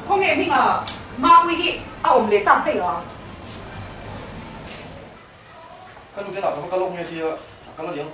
Khawngeh hmingah Mapui hi a awm leh tak daih a. Ka nute lakah kha ka lawk nge tia a kal a ni ang.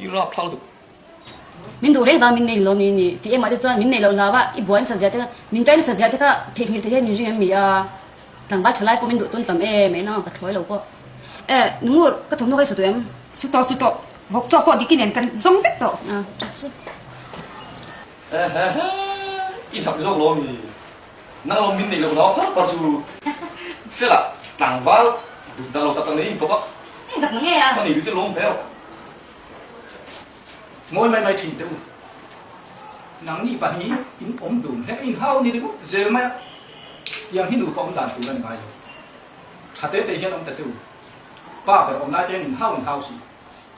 I rap hlau duh. Min duh reng vang min nei lomi ni? Ti engmah te chuan min nei loh hlau a, i buai nasa zia te kha, min try nasa zia te kha theihnghilh thei hian min ring em mi a, tlangval tha lai pawh min duh tun tam em, eina ang ka thlawi lo pawh. Eh, Nungu, ka thawmhnaw hi saw tawh em? Saw tawh, saw tawh. Vawk chawk pawh dik i nen, kan zawng vek tawh. Aa, ṭha chu. Heheheeh i sak zawk lo mi nang lo min neih lo dau har par chu fela tlangval dut dah lo tak tak neih in tawpa i sak nge a hmanei duhtir lo awm hmel mawi mai mai thin teh u nang ni pahnih in awm dun he in hau ni ringawt zel mai a tiang hi nupa awm dan tur a ni ngai lo thatete hian awm ta che u pa ber awm lai te hian in hau in hau si.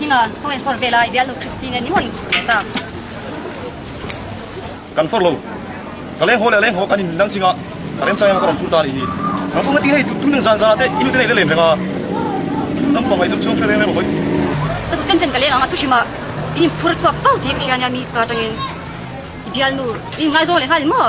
Hina, khaw en phawrh ve lai, bialnu Kristi nen ni mawin khur ta. Kan phawrh lo. Ka leng haw leh leng haw kan in dang chingah ka remchang em a ka rawn phur ta a nih hi. Kan phawrh ngatin hei tum deuh zan zan ah te i nute nei le lem reng a. Kan pangngai deuh chuang fel reng reng lo hawi. Ka duh chen chen ka leng ang a thuhrim ah in in phur chhuak fo tih ka hria nia mi ka tangin. I bialnu, in ngaizawng leh nghal maw?